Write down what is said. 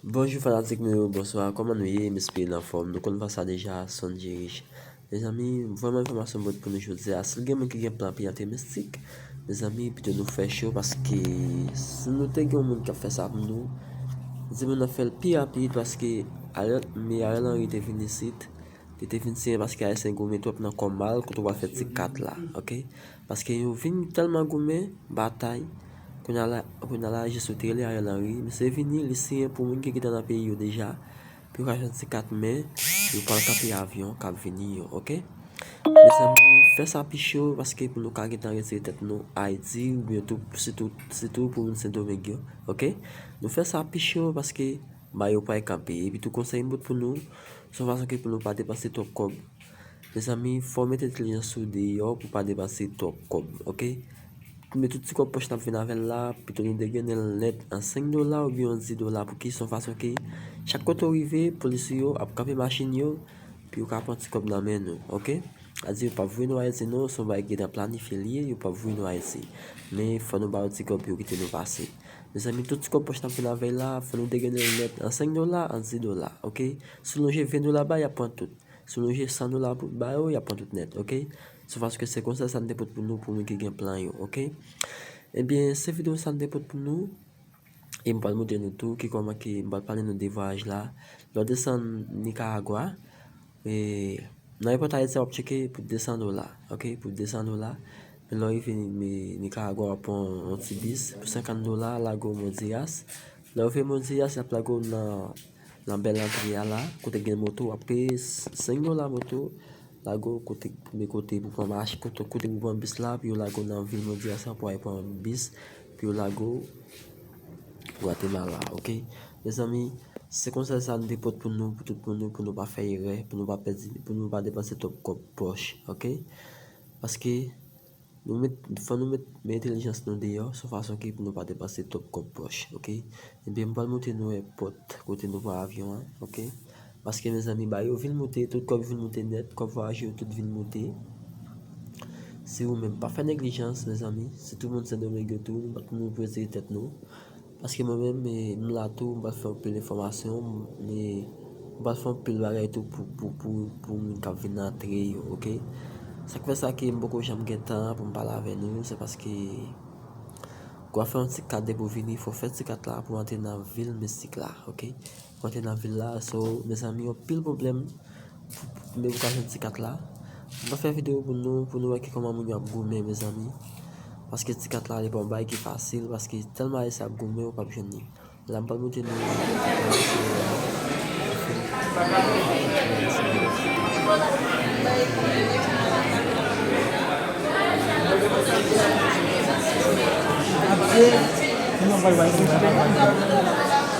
Bonjou fanatik mwen yo bonswa kòman nou ye m espere n anfòm nou konn pa sa deja son djerish mezanmi m vrèman enfòmasyon m pot pou nou jodi a si gen moun ki gen plan pou y antre mistik mezanmi pito nou fè cho paske si nou te gen yon moun k ap fè sa pou nou di moun nan fè l pi rapid paske Ariel me Ariel Henry te vin isit li te vin siyen paske ayisyen goumen twòp nan kò mal kote w al fè ti kat la ok Paske yo vin tèlman goumen, batay, kounye a la jisou tele Ariel Henry, misye vini li siyen pou moun ki gentan nan peyi yo deja, pou yo ka jwenn ti kat men, yo pral kanpe avyon kap vini yo ok. Mezanmi fè sa pi cho paske pou nou ka gentan retire tèt nou Ayiti oubyen tou sitou sitou pou moun Sendomeng yo ok. Nou fè sa pi cho paske bayo pay kanpe epi tou konsèy m bout pou nou son fason ke pou nou pa depanse twòp kòb. Mezanmi fò mete entelijans sou deyò pou pa depanse twòp kòb ok Kounye tout ti kòb pòch nap vin avèl la pito nou degenel nèt an 5 dola oubyen an 10 dola pou kison fason ke chak kote ou rive polis ou yo ap kanpe machin yo pou yo ka pran ti kòb nan men nou ok Adi yo pap voye nou ayiti non son bagay ki nan planifye liye yo pap voye nou ayiti men fò nou ba yo ti kòb yo kite nou pase Mezanmi tout ti kòb pòch nap vin avèl la fò nou degenel nèt an 5 dola an 10 dola ok si w lonje 20 dola ba yap pran tout Sou loje 100 dola pou ba yo yap pran tout nèt ok se paske se konsa sa m te pot pou nou pou moun ki gen plan yo ok ebyen se video sa m te pot pou nou e m pral moutre nou tou ki koman ki m pral pale nou de vwayaj la lè w desann nikaragwa e nan epòt ayiti a wap tcheke pou 200 dola ok pou 200 dola men lè w rive nikaragwa wap pran yon ti bis pou 50 dola lago modiras lè w rive modiras yap lago w nan Nan bèl antre a la, kote gen moto wap peye 5 dola moto, lago kote premye kote pou pran mach, kote kote pou pran bis la, pou yo lago nan vil mwen di a san pou al pran bis, pou yo lago Gwatemala ok. Mezanmi se konsèy sa m te pot pou nou, pou tout moun yo pou nou pa fè erè, pou nou pa pèdi, pou nou pa depanse twòp kòb pòch ok. Paske. Nou met, fò nou met men entelijans nou deyò son fason ke pou nou pa depanse twòp kòb pòch ok. Ebyen m pral montre nou èpòt kote nou pran avyon an ok. Paske mezanmi bagay yo vin moute, tout kòb vin moute nèt, kòb vwayaje yo tout vin moute. Si ou menm pa fè neglijans mezanmi, si tout moun Sendomeng yo tou, nou pwese tèt nou. Paske mwen menm m la tou, m pral fè anpil enfòmasyon, m pral fè anpil bagay tou pou moun k ap vin antre yo ok. Sa k fè sa ke m poko janm gen tan pou m pale avè nou, se paske pou w fè yon ti kat depi w vini fò w fè ti kat la pou w antre nan vil mistik la ok. Kote nan vil la so mezanmi yon pil problem pou mwen ka jwenn ti kat la mwen fè video pou nou pou nou wè ki koman moun yo ap goumen mezanmi paske ti kat la li pa yon bagay ki fasil paske telman ayisyen ap goumen yo pap jwenn li la mwen pral montre nou yon ti kat la mezanmi mwen fè video pou nou